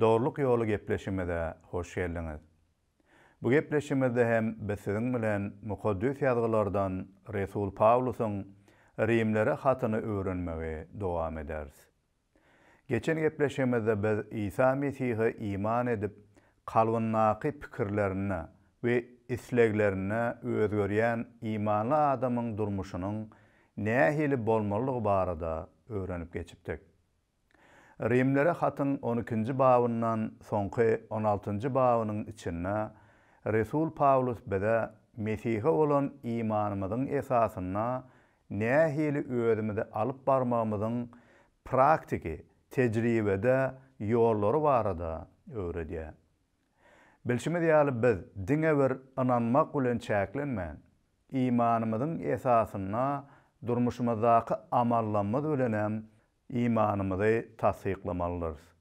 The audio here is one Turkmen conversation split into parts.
Dogrulyk ýoly gepleşigimize hoş geldiňiz. Bu gepleşigimizde hem biz siziň bilen Mukaddes Ýazgylardan resul Pawlusyň Rimlere hatyny öwrenmegi dowam ederis. Geçen gepleşigimizde biz Isa Mesihe iman edip, kalbyndaky pikirlerinde we isleglerinde özgerýän imanly adamyň durmuşynyň nähili bolmalydygy barada öwrenip geçipdik. Rimlere hatyň on ikinji babyndan soňky on altynjy babynyň içinde resul Pawlus bize Mesihe bolan imanymyzyň esasynda nähili özümizi alyp barmagymyzyň praktiki, tejribede ýollary barada öwredýär. Bilşimiz ýaly biz diňe bir ynanmak bilen çäklenmän, imanymyzyň esasynda durmuşymyzdaky amallarymyz bilenem imanymyzy tassyklamaldyrys.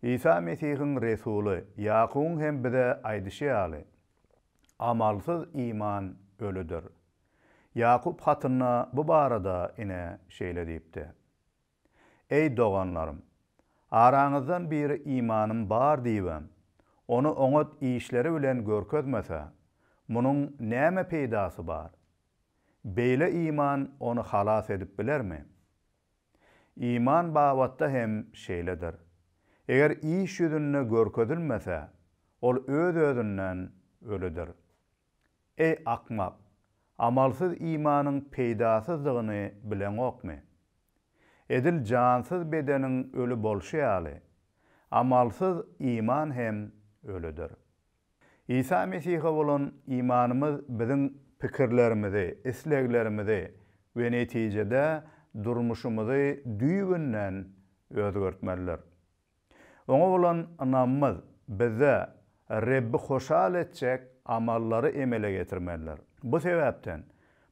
Isa Mesihiň resuly Ýakubyň hem bize aýdyşy ýaly, Amalsyz iman ölüdir. Ýakup hatynda bu barada ine şeýle diýipdi, Eý, doganlarym! Araňyzdan biri imanym bar diýibem, ony oňat işleri bilen görkezmese, munuň näme peýdasy bar? Beýle iman ony halas edip bilermi? Iman babatda hem şeýledir. Eger iş ýüzünde görkezilmese, ol öz-özünden ölüdir. Eý, akmak, amalsyz imanyň peýdasyzdygyny bileňokmy? Edil jansyz bedeniň öli bolşy ýaly, amalsyz iman hem ölüdir. Isa Mesihe bolan imanymyz biziň pikirlerimizi, isleglerimizi we netijede durmuşymyzy düýbünden özgertmelidir. Oňa bolan ynamymyz bizde Rebbi hoşal etjek amallary emele getirmelidir. Bu sebäpden,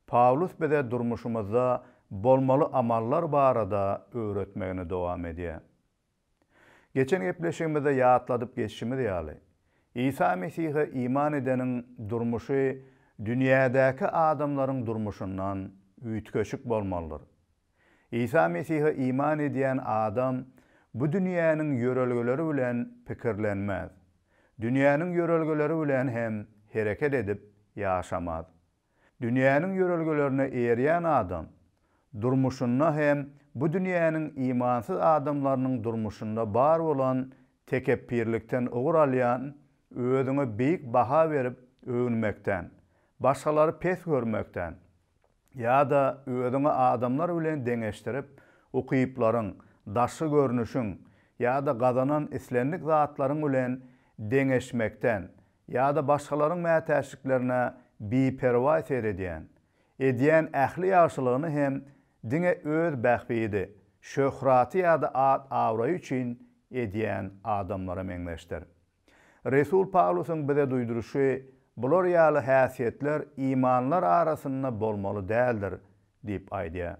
Pawlus bize durmuşymyzda bolmaly amallar barada öwretmegini dowam edýär. Geçen gepleşigimizde ýatladyp geçişimiz ýaly, Isa Mesihe iman edeniň durmuşy dünýädäki adamlaryň durmuşyndan üýtgeşik bolmalydyr. Isa Mesihe iman edýän adam bu dünýäniň ýörelgeleri bilen pikirlenmez, dünýäniň ýörelgeleri bilen hem hereket edip ýaşamaz. Dünýäniň ýörelgelerine eýerýän adam, durmuşynda hem bu dünýäniň imansyz adamlarynyň durmuşynda bar bolan tekepbirlikden ugur alýan, özüňe beýik baha berip öwünmekden, başgalary pes görmekden ýa-da özüňi adamlar bilen deňeşdirip, ukyplaryň, daşky görnüşiň ýa-da gazanan islendik zatlaryň bilen deňeşmekden Ýa-da başgalaryň mätäçliklerine biperwaý seredýän, edýän ähli ýagşylygyny hem diňe öz bähbidi, şöhraty ýa-da at-abraýy üçin edýän adamlara meňzeşdir. Resul Pawlusyň bize duýduryşy, Bular ýaly häsiýetler imanlylar arasynda bolmaly däldir diýip aýdýar.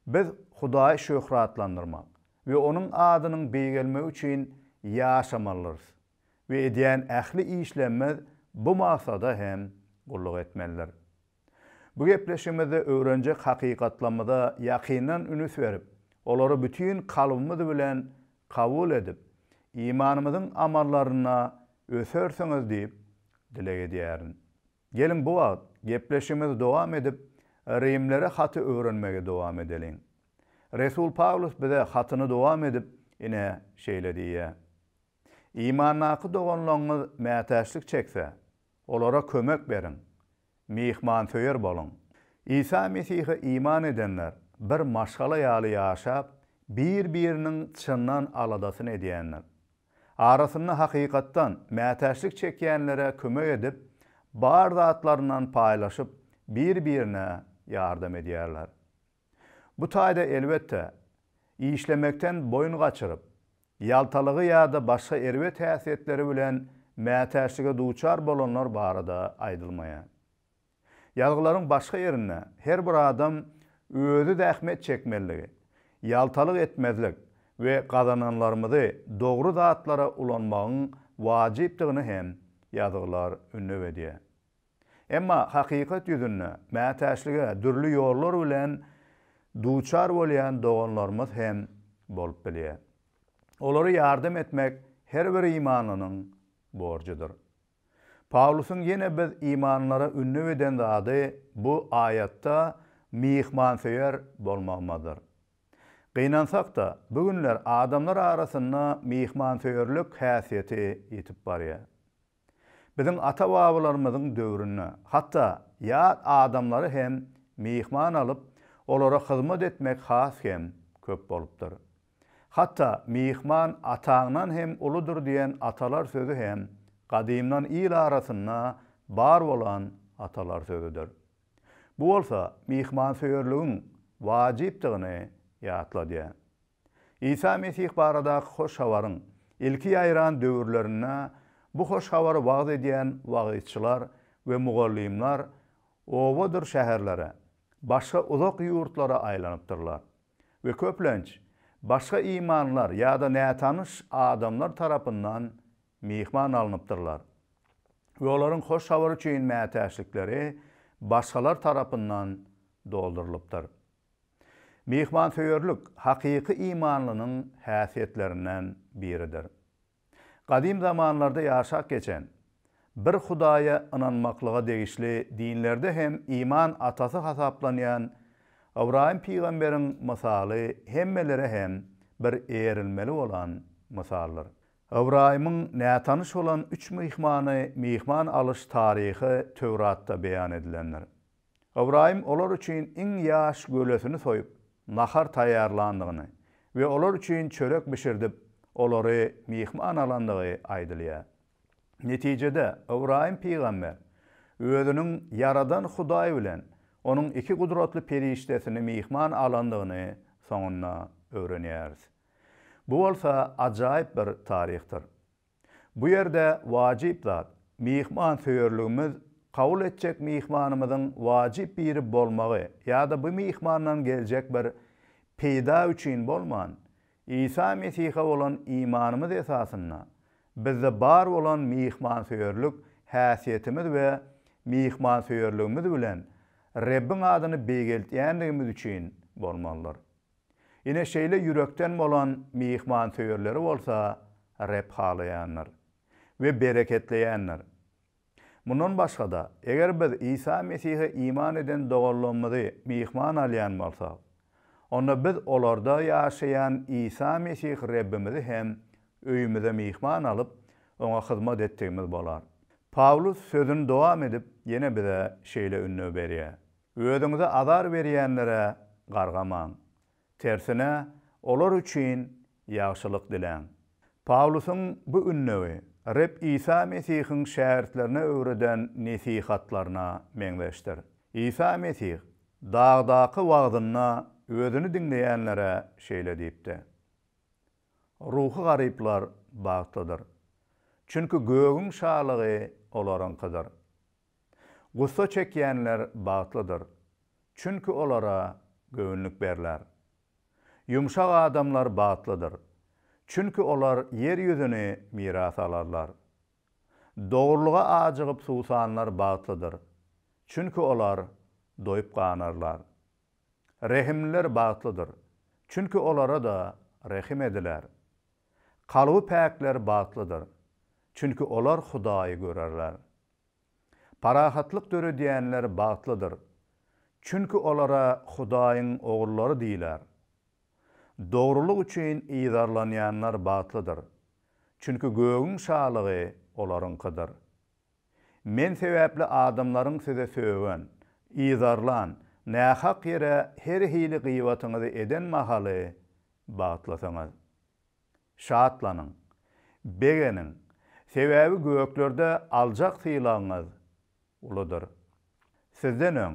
Biz Hudaýy şöhratlandyrmak we Onuň adynyň beýgelmegi üçin ýaşamalydyrys. we edýän ähli işlemimiz bu maksada hem gulluk etmelidir. Bu gepleşigimizde öwrenjek hakykatlarymyza ýakyndan ünüs berip, olary bütin kalbymyz bilen kabul edip, imanymyzyň amallarynda ösersiňiz diýip dileg edýärin. Geliň bu wagt gepleşigimizi dowam edip, Rimlere haty öwrenmegi dowam edeliň. Resul Pawlus bize hatyny dowam edip ine şeýle diýýär. Imandaky doganlaryňyz mätäçlik çekse, olara kömek beriň. Myhmansöýer boluň. Isa Mesihe iman edenler bir maşgala ýaly ýaşap, bir-biriniň çyndan aladasyny edýändir. Arasynda hakykatdan mätäçlik çekýänlere kömek edip, bar zatlaryndan paýlaşyp, bir-birine ýardam edýärler. Bu taýda elbetde, işlemekden boýun gaçyryp, ýaltalygy ýa-da başga erbet häsiýetleri bilen mätäçlige duçar bolanlar barada aýdylmaýar. Ýazgylaryň başga ýerinde her bir adam özi zähmet çekmelidigi, ýaltalyk etmezlik we gazananlarymyzy dogry zatlara ulanmagyň wajypdygyny hem ýazgylar ündew edýär. Emma hakykat ýüzünde mätäçlige dürli ýollar bilen duçar bolýan doganlarymyz hem bolup bilýär. Olara ýardam etmek her bir imanlynyň borjudyr. Pawlusyň ýene biz imanlylara ündew eden zady bu aýatda myhmansöýer bolmagymyzdyr. Gynansak-da, bu günler adamlar arasynda myhmansöýerlik häsiýeti ýitip barýar. Biziň ata-babalarymyzyň döwründe hatda ýat adamlary hem myhman alyp, olara hyzmat etmek has hem köp bolupdyr. Hatda Myhman ataňdan hem uludyr diýen atalar sözi hem gadymdan il arasynda bar bolan atalar sözüdir. Bu bolsa myhmansöýerligiň wajypdygyny ýatladýar. Isa Mesih baradaky hoş habaryň ilki ýaýran döwürlerinde bu hoş habary wagyz edýän wagyzçylar we mugallymlar obadyr şäherlere, başga uzak ýurtlara aýlanypdyrlar we köplenç başga imanlar ýa-da nätanyş adamlar tarapyndan myhman alnypdyrlar we olaryň hoş habar üçin mätäçlikleri başgalar tarapyndan doldurylypdyr. Myhmansöýerlik hakyky imanlynyň häsiýetlerinden biridir. Gadym zamanlarda ýaşap geçen, bir Hudaýa ynanmaklyga degişli dinlerde hem iman atasy hasaplanýan Ybraýym pygamberiň mysaly hemmelere hem bir erilmeli bolan mysaldyr. Ybraýymyň nätanyş bolan üç myhmany myhman alyş taryhy Töwratda beýan edilendir. Ybraýym olar üçin iň ýaş gölesini soýup, nahar taýýarlandygyny we olar üçin çörek bişirdip, olary myhman alandygy aýdylýar. Netijede, Ybraýym pygamber özüniň Ýaradan Hudaý bilen Onuň iki gudratly perişdesini myhman alandygyny soňunda öwrenýäris. Bu bolsa ajaýyp bir taryhdyr. Bu ýerde wajyp zat, myhmansöýerligimiz, kabul etjek myhmanymyzyň wajyp biri bolmagy ýa-da bu myhmandan geljek bir peýda üçin bolman, Isa Mesihe bolan imanymyz esasynda, bizde bar bolan myhmansöýerlik häsiýetimiz we myhmansöýerligimiz bilen Rebbiň adyny beýgeltýändigimiz üçin bolmalydyr. Ine şeýle ýürekden bolan myhmansöýerleri bolsa Reb halaýandyr we bereketleýändir. Mundan başga-da, eger biz Isa Mesihe iman eden doganlarymyzy myhman alýan bolsak, onda biz olarda ýaşaýan Isa Mesih Rebbimizi hem öýümize myhman alyp, oňa hyzmat etdigimiz bolar. Pawlus sözüni dowam edip, ýene bize şeýle ündew berýär, Özüňize azar berýänlere gargamaň. Tersine, olar üçin ýagşylyk diläň. Pawlusyň bu ündegi Reb Isa Mesihiň şägirtlerine öwreden nesihatlaryna meňzeşdir. Isa Mesih Dagdaky wagzynda özüni diňleýänlere şeýle diýipdi, Ruhy garyplar bagtlydyr. Çünki gögüň şalygy olaryňkydyr. Gussa çekýänler bagtlydyr, çünki olara göwünlik berler. Ýumşak adamlar bagtlydyr, çünki olar ýer ýüzüni miras alarlar. Dogrulyga ajygyp susanlar bagtlydyr, çünki olar doýup ganarlar. Rehimliler bagtlydyr, çünki olara-da rehim ediler. Kalby päkler bagtlydyr, çünki olar Hudaýy görerler. Parahatlyk döredýänler bagtlydyr, çünki olara Hudaýyň ogrullary diýiler. Dogrulyk üçin yzarlanýanlar bagtlydyr, çünki gögüň şalygy olaryňkydyr. Men sebäpli adamlaryň size sögen, yzarlan, nähak ýere her hili gybatyňyzy eden mahaly bagtlysyňyz. Şatlanyň, begeniň, sebäbi göklerde aljak sylagyňyz uludyr. Sizden öň,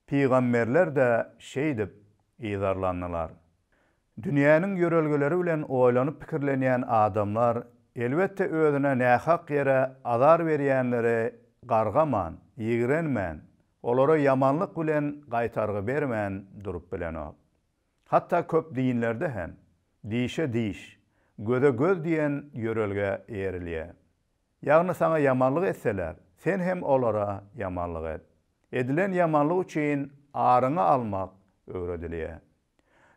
pygamberler-de şeýdip yzarlandylar. Dünýäniň ýörelgeleri bilen oýlanyp pikirlenýän adamlar, elbetde, özüne nähak ýere azar berýänleri gargaman, ýigrenmän, olara ýamanlyk bilen gaýtargy bermän durup bilenok. Hatda köp dinlerde hem dişe diş, göze göz diýen ýörelgä eýerilýär. Ýagny saňa ýamanlyk etseler, sen hem olara ýamanlyk et. Edilen ýamanlyk üçin aryňy almak öwredilýär.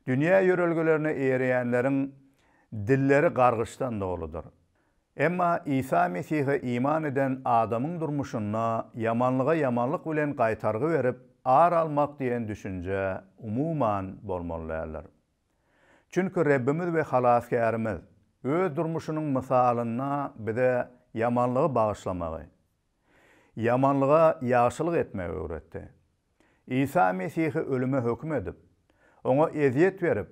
Dünýä ýörelgelerine eýerýänleriň dilleri gargyşdan doludyr. Emma Isa Mesihe iman eden adamyň durmuşynda ýamanlyga ýamanlyk bilen gaýtargy berip, ar almak diýen düşünje, umuman, bolmaly däldir. Çünki Rebbimiz we Halasgärimiz Öz durmuşynyň mysalynda bize ýamanlygy bagyşlamagy, Ýamanlyga ýagşylyk etmegi öwretdi. Isa Mesihi ölüme höküm edip, oňa ezýet berip,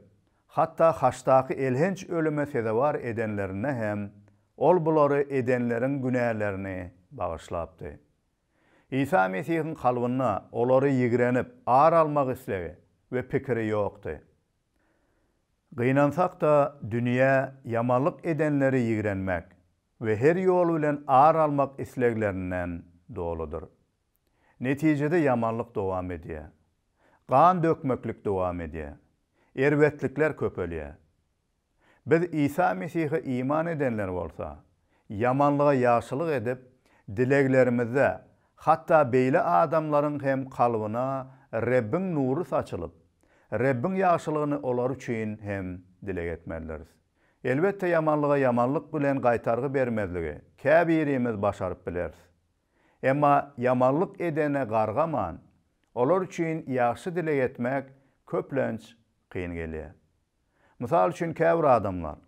hatda haçdaky elhenç ölüme sezewar edenlerinde hem ol bulary edenleriň günälerini bagyşlapdy. Isa Mesihiň kalbynda olary ýigrenip, ar almak islegi we pikiri ýokdy. Gynansak-da, dünýä ýamanlyk edenleri ýigrenmek, we her ýol bilen ar almak isleglerinden doludyr. Netijede ýamanlyk dowam edýär. Gan dökmeklik dowam edýär. Erbetlikler köpelýär. Biz Isa Mesihe iman edenler bolsa, ýamanlyga ýagşylyk edip, dileglerimizde hatda beýle adamlaryň hem kalbyna Rebbiň nury saçylyp, Rebbiň ýagşylygyny olar üçin hem dileg etmelidiris. Elbetde ýamanlyga ýamanlyk bilen gaýtargy bermezligi käbirimiz başaryp bileris. Emma ýamanlyk edene gargaman, olar üçin ýagşy dileg etmek köplenç kyn gelýär. Mysal üçin käbir adamlar,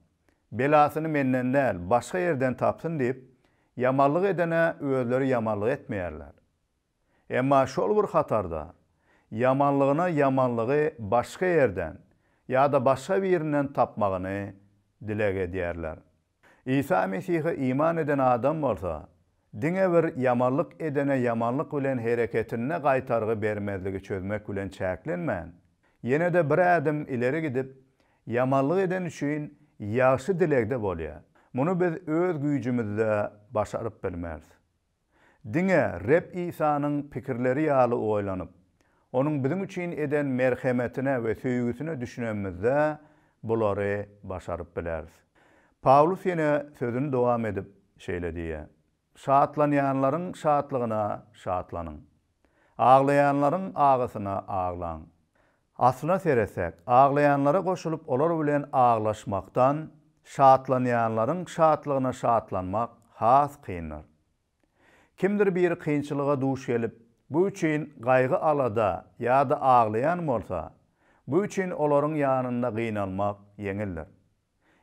Belasyny menden däl, başga ýerden tapsyn diýip, ýamanlyk edene özleri ýamanlyk etmeýärler. Emma şol bir hatarda, ýamanlygyna ýamanlygy başga ýerden ýa-da başga birinden tapmagyny dileg edýärler. Isa Mesihe iman eden adam bolsa, diňe bir ýamanlyk edene ýamanlyk bilen hereketinde gaýtargy bermezligi çözmek bilen çäklenmän, ýene-de bir ädim ileri gidip, ýamanlyk eden üçin ýagşy dilegde bolýar. Muny biz öz güýjümizde başaryp bilmeris. Diňe Reb Isanyň pikirleri ýaly oýlanyp, Onuň biziň üçin eden merhemetine we söýgüsine düşünenimizde, bulary başaryp bileris. Pawlus ýene sözüni dowam edip, şeýle diýýär, Şatlanýanlaryň şatlygyna şatlanyň. Aglaýanlaryň agysyna aglaň. Aslyna seretsek, aglaýanlara goşulyp olar bilen aglaşmakdan, şatlanýanlaryň şatlygyna şatlanmak has kyndyr. Kimdir biri kynçylyga duş gelip, bu üçin gaýgy-alada ýa-da aglaýan bolsa, bu üçin olaryň ýanynda gynalmak ýeňildir.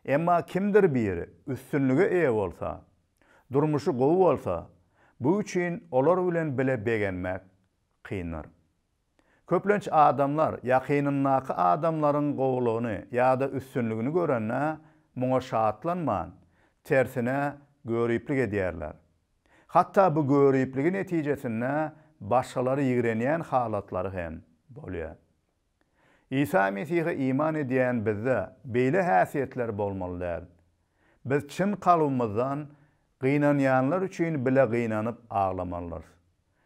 Emma kimdir biri üstünlige eýe bolsa, durmuşy gowy bolsa, bu üçin olar bilen bile begenmek kyndyr. Köplenç adamlar ýakynyndaky adamlaryň gowulygyny ýa-da üstünligini görende, muňa şatlanman, tersine göriplik edýärler. Hatda bu göripligi netijesinde başgalary ýigrenýän halatlary hem bolýar. Isa Mesihe iman edýän bizde beýle häsiýetler bolmaly däl. Biz çyn kalbymyzdan gynanýanlar üçin bile gynanyp aglamalydyrys.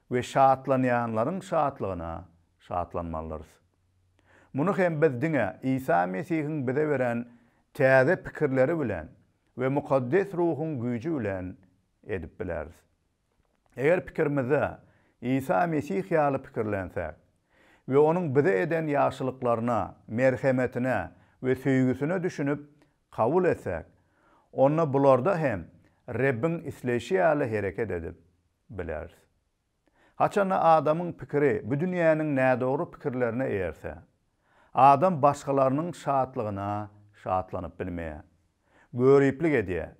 we şatlanýanlaryň şatlygyna şatlanmalydyrys. Muny hem biz diňe Isa Mesihiň bize beren täze pikirleri bilen we mukaddes ruhuň güýji bilen edip bileris. Eger pikirimizde Isa Mesih ýaly pikirlensek we onuň bize eden ýagşylyklaryna, merhemetine we söýgüsine düşünip kabul etsek, onda bularda hem Rebbiň isleýşi ýaly hereket edip, bileris. Haçanda adamyň pikiri bu dünýäniň nädogry pikirlerine eýerse, adam başgalarynyň şatlygyna şatlanyp bilmeýär. Göriplik edýär.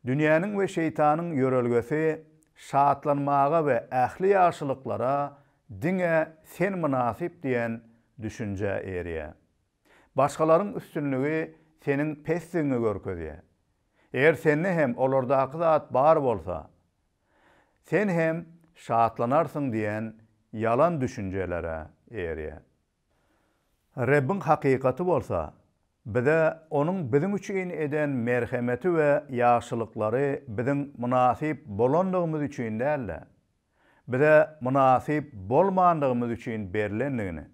Dünýäniň we şeýtanyň ýörelgesi şatlanmaga we ähli ýagşylyklara diňe sen mynasyp diýen düşünjä eýerýär. Başgalaryň üstünligi seniň pesdigiňi görkezýär. Eger sende hem olardaky zat bar bolsa, sen hem şatlanarsyň diýen ýalan düşünjelere eýerýär. Rebbiň hakykaty bolsa, bize Onuň biziň üçin eden merhemeti we ýagşylyklary biziň mynasyp bolandygymyz üçin däl-de, bize mynasyp bolmandygymyz üçin berlendigini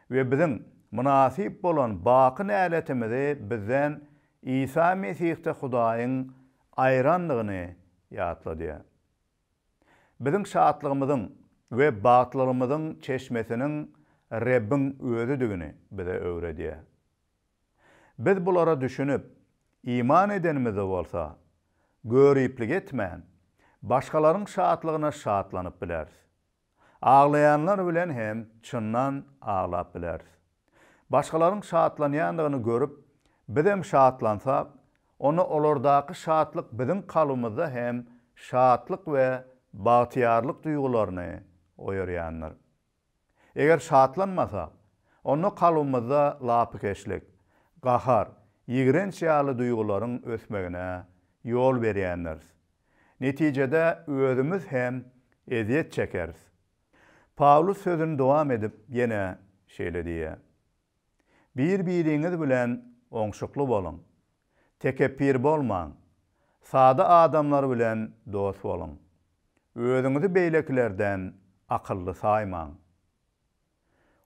we biziň mynasyp bolan baky näletimizi bizden Isa Mesihde Hudaýyň aýrandygyny ýatladýar. Biziň şatlygymyzyň we bagtlylygymyzyň çeşmesiniň Rebbiň Özüdigini bize öwredýär. Biz bulara düşünip, iman edenimizde bolsa, göriplik etmän, başgalaryň şatlygyna şatlanyp bileris. Aglaýanlar bilen hem çyndan aglap bileris. Başgalaryň şatlanýandygyny görüp, bizem şatlansak, onda olardaky şatlyk biziň kalbymyzda hem şatlyk we bagtyýarlyk duýgularyny oýarýandyr. Eger şatlanmasak, onda kalbymyzda lapykeçlik, gahar, ýigrenç ýaly duýgularyň ösmegine ýol berýändiris. Netijede özümiz hem ezýet çekeris. Pawlus sözüni dowam edip ýene şeýle diýýär, Bir-biriňiz bilen oňşukly boluň. Tekepbir bolmaň. Sada adamlar bilen dost boluň. Özüňizi beýlekilerden akylly saýmaň.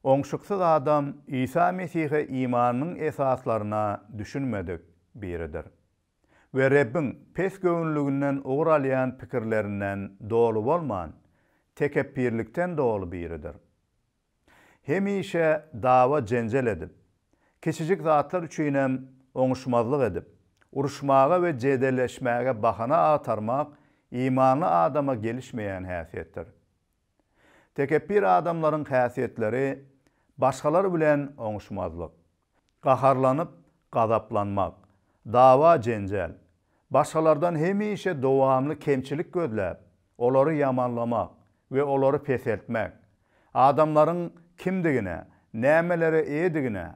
Oňşuksyz adam Isa Mesihe imanynyň esaslaryna düşünmedik biridir we Rebbiň pesgöwünliginden ugur alýan pikirlerinden doly bolman, tekepbirlikden doly biridir. Hemişe dawa-jenjel edip, kiçijik zatlar üçinem oňuşmazlyk edip, uruşmaga we jedelleşmäge bahana agtarmak imanly adama gelişmeýän häsiýetdir. Tekepbir adamlaryň häsiýetleri başgalar bilen oňuşmazlyk, gaharlanyp gazaplanmak, dawa-jenjel, başgalardan hemişe dowamly kemçilik gözläp, olary ýamanlamak we olary peseltmek, adamlaryň kimdigine, nämelere eýedigine,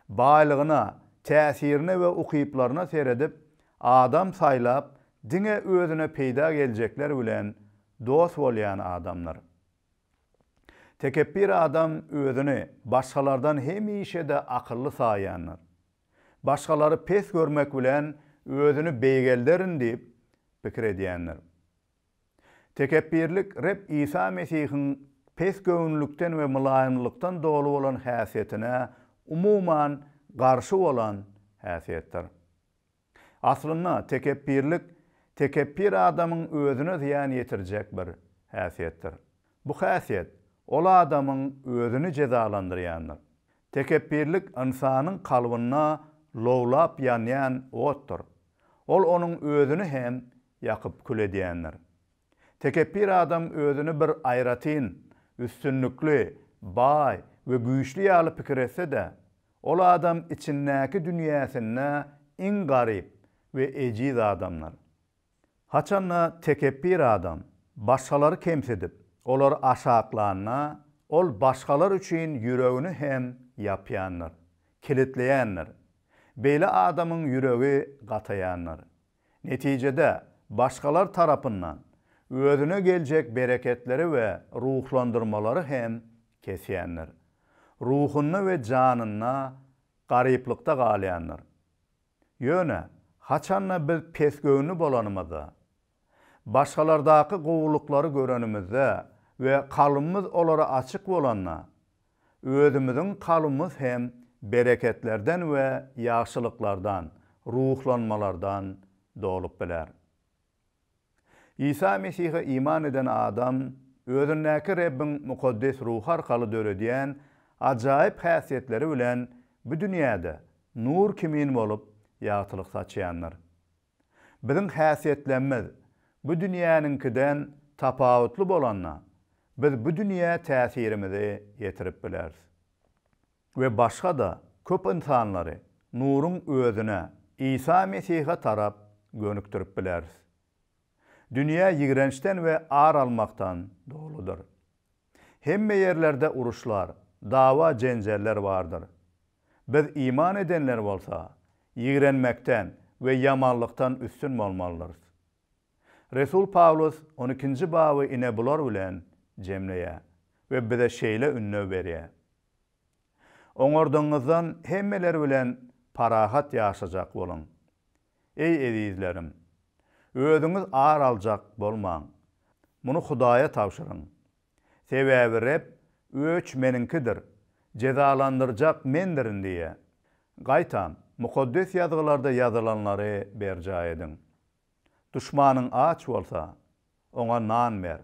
baýlygyna, täsirine we ukyplaryna seredip, adam saýlap, diňe özüne peýda geljekler bilen dost bolýan adamdyr. Tekepbir adam özüni başgalardan hemişe-de akylly saýýandyr. Başgalary pes görmek bilen özüni beýgelderin diýip pikir edýändir. Tekepbirlik Reb Isa Mesihiň pesgöwünlikden we mylaýymlykdan doly bolan häsiýetine umuman garşy bolan häsiýetdir. Aslynda, tekepbirlik tekepbir adamyň özüne zyýan ýetirjek bir häsiýetdir. Bu häsiýet ol adamyň özüni jezalandyrýandyr. Tekepbirlik ynsanyň kalbynda lowlap ýanýan otdur. Ol onuň özüni hem ýakyp kül edýändir. Tekepbir adam özüni bir aýratyn, üstünlikli, baý we güýçli ýaly pikir etse-de, Ol adam içindäki dünýäsinde iň garyp we ejiz adamdyr. Haçanda tekepbir adam başgalary kemsidip, olary aşaklanda, ol başgalar üçin ýüregini hem ýapýandyr, kilitleýändir. Beýle adamyň ýüregi gataýandyr. Netijede, başgalar tarapyndan özüne geljek bereketleri we ruhlandyrmalary hem kesýändir. Ruhunda we janynda garyplykda galýandyr. Ýöne, haçan-da biz pesgöwünli bolanymyzda, başgalardaky gowulyklary görenimizde we kalbymyz olara açyk bolanda, Özümiziň kalbymyz hem bereketlerden we ýagşylyklardan, ruhlanmalardan dolup biler. Isa Mesihe iman eden adam özündäki Rebbiň mukaddes ruhy arkaly döredýän ajaýyp häsiýetleri bilen bu dünýäde nur kimin bolup ýagtylyk saçýandyr. Biziň häsiýetlemmiz bu dünýäniňkiden tapawutly bolanda, biz bu dünýä täsirimizi ýetirip bileris we başga-da köp ynsanlary nuruň Özüne, Isa Mesihe tarap gönükdirip bileris. Dünýä ýigrençden we ar almakdan doludyr. Hemme ýerlerde uruşlar, dawa-jenjeller bardyr. Biz iman edenler bolsa, ýigrenmekden we ýamanlykdan üstün bolmalydyrys. Resul Pawlus on ikinji baby ine bular bilen jemleýär we bize şeýle ündew berýär, Oňardygyňyzdan hemmeler bilen parahat ýaşajak boluň. Eý, ezizlerim! Özüňiz ar aljak bolmaň. Muny Hudaýa tabşyryň. Sebäbi Reb, Öç Meniňkidir, jezalandyrjak Mendirin diýýär. Gaýtam, Mukaddes Ýazgylarda ýazylanlary berjaý ediň. Duşmanyň aç bolsa, oňa nan ber.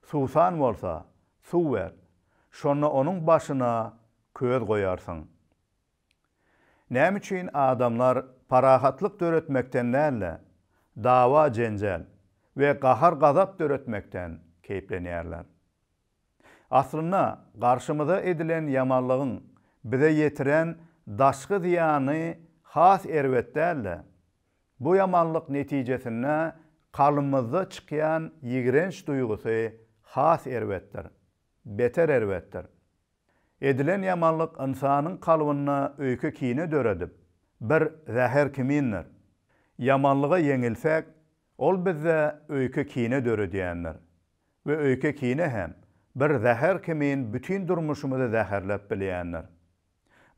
Suwsan bolsa, suw ber. Şonda onuň başyna köz goýarsyň. Näme üçin adamlar parahatlyk döretmekden däl-de, dawa-jenjel we gahar-gazap döretmekden keýplenýärler? Aslynda, garşymyza edilen ýamanlygyň bize ýetiren daşky zyýany has erbet däl-de, bu ýamanlyk netijesinde kalbymyzda çykýan ýigrenç duýgusy has erbetdir, beter erbetdir. Edilen ýamanlyk ynsanyň kalbynda öýke-kine döredip, bir zäher kimindir. Ýamanlyga ýeňilsek, ol bizde öýke-kine döredýändir. We öýke-kine hem bir zäher kimin bütin durmuşymyzy zäherläp bilýändir.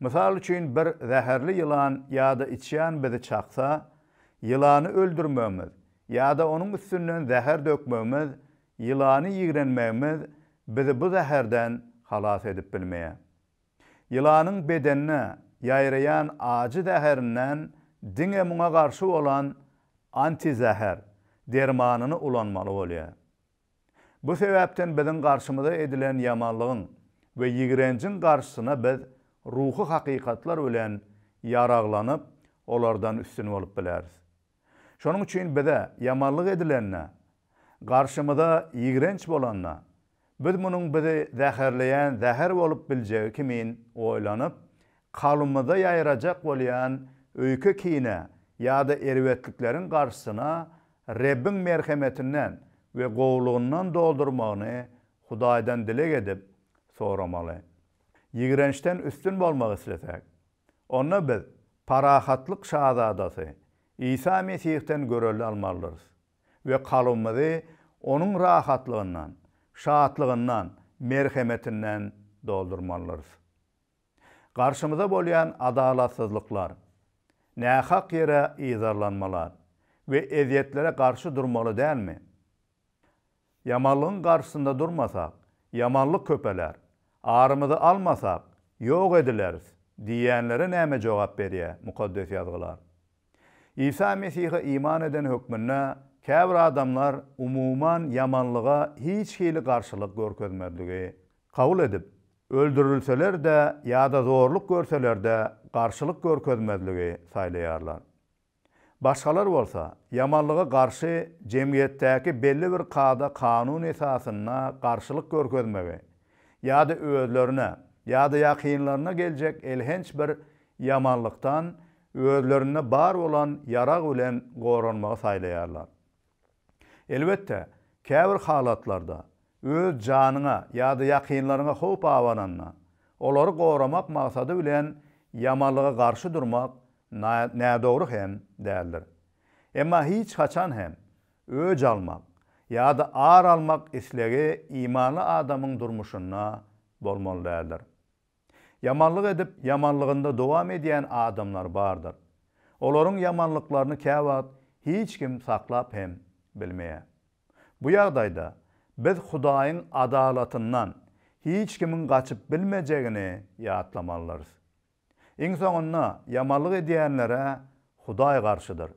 Mysal üçin bir zäherli ýylan ýa-da içýan bizi çaksa, ýylany öldürmegimiz ýa-da onuň üstünden zäher dökmegimiz Ýylany ýigrenmegimiz bizi bu zäherden halas edip bilmeýär. Ýylanyň bedenine ýaýraýan ajy zäherinden diňe muňa garşy bolan antizäher dermanyny ulanmaly bolýar. Bu sebäpden biziň garşymyza edilen ýamanlygyň we ýigrenjiň garşysyna biz ruhy hakykatlar bilen ýaraglanyp, olardan üstün bolup bileris. Şonuň üçin bize ýamanlyk edilende, garşymyza ýigrenç bolanda, biz munuň bizi zäherleýän zäher bolup biljegi kimin oýlanyp, kalbymyzda ýaýrajak bolýan öýke-kine ýa-da erbetlikleriň garşysyna Rebbiň merhemetinden we gowulygyndan doldurmagyny Hudaýdan dileg edip soramaly. Ýigrençden üstün bolmak isleseň, Onda biz Parahatlyk Şazadasy Isa Mesihden görelde almalydyrys we kalbymyzy Onuň rahatlygyndan, şatlygyndan, merhemetinden doldurmalydyrys. Garşymyza bolýan adalatsyzlyklar, nähak ýere yzarlanmalar we ezýetlere garşy durmaly dälmi? Ýamanlygyň garşysynda durmasak, ýamanlyk köpeler. Arymyzy almasak, ýok edileris diýýänlere näme jogap berýär Mukaddes Ýazgylar? Isa Mesihe iman eden hökmünde käbir adamlar umuman ýamanlyga hiç hili garşylyk görkezmezligi kabul edip, öldürilseler-de ýa-da zorluk görseler-de garşylyk görkezmezligi saýlaýarlar. Başgalar bolsa, ýamanlyga garşy jemgyýetdäki belli bir kada-kanun esasynda garşylyk görkezmegi ýa-da özlerine ýa-da ýakynlaryna geljek elhenç bir ýamanlykdan özlerinde bar bolan ýarag bilen goranmagy saýlaýarlar. Elbetde, käbir halatlarda, öz janyňa ýa-da ýakynlaryňa howp abananda, olary goramak maksady bilen ýamanlyga garşy durmak nädogry hem däldir. Emma hiç haçan hem öç almak ýa-da ar almak islegi imanly adamyň durmuşynda bolmaly däldir. Ýamanlyk edip, ýamanlygynda dowam edýän adamlar bardyr. Olaryň ýamanlyklaryny käwagt hiç kim saklap hem bilmeýär. Bu ýagdaýda biz Hudaýyň adalatyndan hiç kimiň gaçyp bilmejegini ýatlamalydyrys. Iň soňunda ýamanlyk edýänlere Hudaý garşydyr.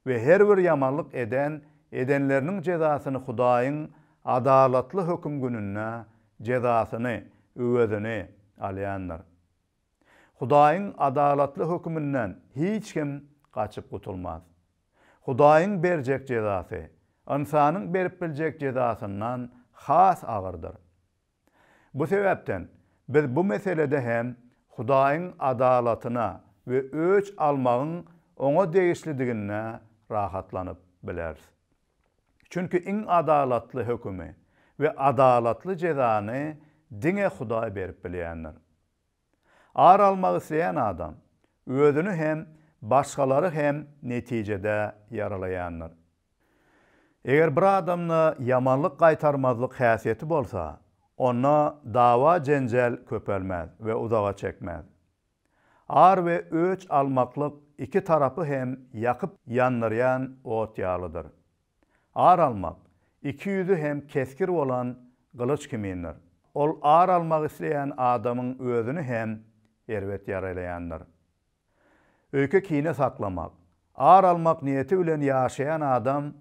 we her bir ýamanlyk eden edenleriniň jezasyny Hudaýyň adalatly höküm gününde jezasyny, öwezini, alýandyr. Hudaýyň adalatly höküminden hiç kim gaçyp gutulmaz. Hudaýyň berjek jezasy, ynsanyň berip biljek jezasyndan has agyrdyr. Bu sebäpden, biz bu meselede hem Hudaýyň adalatyna we öç almagyň Oňa degişlidigine rahatlanyp bileris. Çünki iň adalatly hökümi we adalatly jezany diňe Hudaý berip bilýändir. Ar almak isleýän adam, özüni hem, başgalary hem netijede ýaralaýandyr. Eger bir adamda ýamanlyk gaýtarmazlyk häsiýeti bolsa, onda dawa-jenjel köpelmez we uzaga çekmez. Ar we öç almaklyk iki tarapy hem ýakyp ýandyrýan ot ýalydyr. Ar almak, iki ýüzi hem kesgir bolan gylyç kimindir. Ol ar almak isleýän adamyň özüni hem erbet ýaralaýandyr. Öýke kine saklamak, ar almak niýeti bilen ýaşaýan adam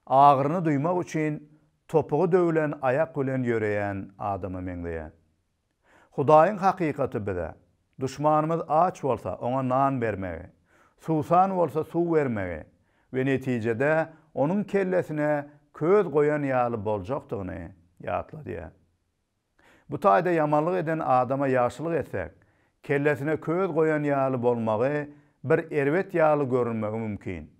agyryny duýmak üçin topugy döwlen aýak bilen ýöreýän adama meňzeýär. Hudaýyň hakykaty bize, Duşmanymyz aç bolsa, oňa nan bermegi, suwsan bolsa, suw bermegi we netijede onuň kellesine köz goýan ýaly boljakdygyny ýatladýar. Bu taýda ýamanlyk eden adama ýagşylyk etsek, kellesine köz goýan ýaly bolmagy bir erbet ýaly görünmegi mümkin.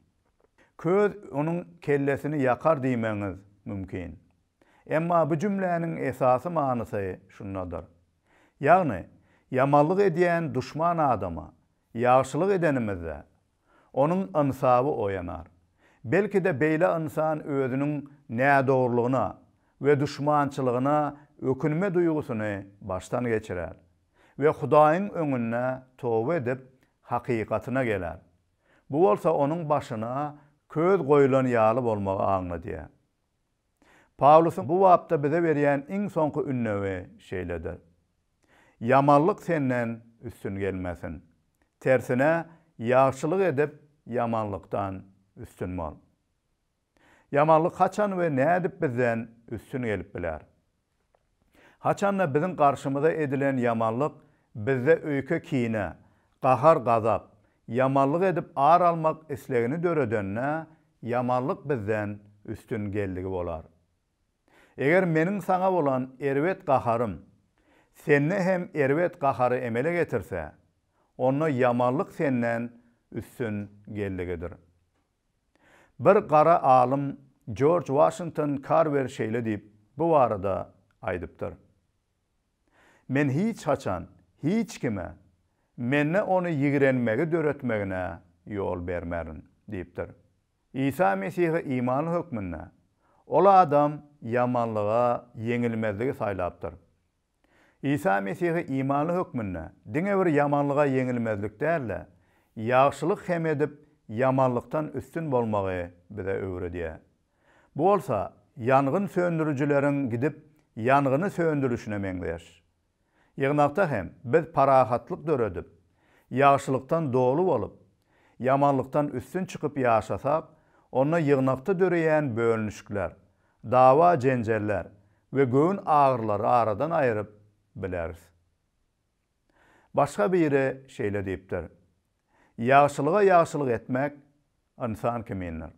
Köz onuň kellesini ýakar diýmegiňiz mümkin. Emma bu jümläniň esasy manysy şundadyr. Ýagny, ýamanlyk edýän duşman adama ýagşylyk edenimizde, onuň ynsaby oýanar. Belki-de beýle ynsan özüniň nädogrulygyna we duşmançylygyna ökünme duýgusyny başdan geçirer we Hudaýyň öňünde toba edip, hakykatyna geler. Bu bolsa onuň başyna köz goýlan ýaly bolmagy aňladýar. Pawlusyň bu bapda bize berýän iň soňky ündewi şeýledir, Ýamanlyk senden üstün gelmesin. Tersine, ýagşylyk edip, ýamanlykdan üstün bol. Ýamanlyk haçan we nädip bizden üstün gelip biler? Haçan-da biziň garşymyza edilen ýamanlyk bizde öýke-kine, gahar-gazap, ýamanlyk edip ar almak islegini döredende, ýamanlyk bizden üstün geldigi bolar. Eger meniň saňa bolan erbet gaharym sende hem erbet gahary emele getirse, onda ýamanlyk senden üstün geldigidir. Bir gara alym Jorj Waşington Karwer şeýle diýip, bu barada aýdypdyr, Men hiç haçan hiç kime mende ony ýigrenmegi döretmegine ýol bermerin diýipdir. Isa Mesihe imanly hökmünde, ol adam ýamanlyga ýeňilmezligi saýlapdyr. Isa Mesihe imanly hökmünde diňe bir ýamanlyga ýeňilmezlik däl-de, ýagşylyk hem edip, ýamanlykdan üstün bolmagy bize öwredýär. Bu bolsa ýangyn söndürijileriň gidip, ýangyny söndürişine meňzeş. Ýygnakda hem biz parahatlyk döredip, ýagşylykdan doly bolup, ýamanlykdan üstün çykyp ýaşasak, onda ýygnakda döreýän bölünişikler, dawa-jenjeller we göwün agyrylary aradan aýyryp bileris. Başga biri şeýle diýipdir, Ýagşylyga ýagşylyk etmek ynsan kimindir.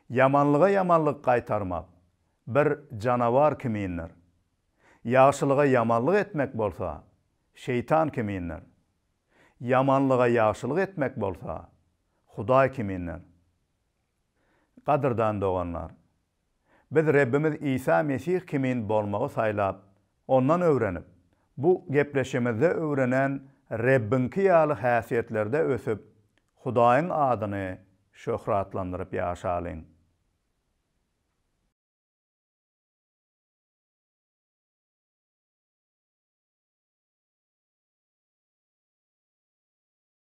Ýamanlyga ýamanlyk gaýtarmak bir janawar kimindir. Ýagşylyga ýamanlyk etmek bolsa, şeýtan kimindir. Ýamanlyga ýagşylyk etmek bolsa, Hudaý kimindir. Gadyrdan doganlar! Biz Rebbimiz Isa Mesih kimin bolmagy saýlap, Ondan öwrenip, bu gepleşimizde öwrenen Rebbiňki ýaly häsiýetlerde ösüp, Hudaýyň adyny şöhratlandyryp ýaşalyň.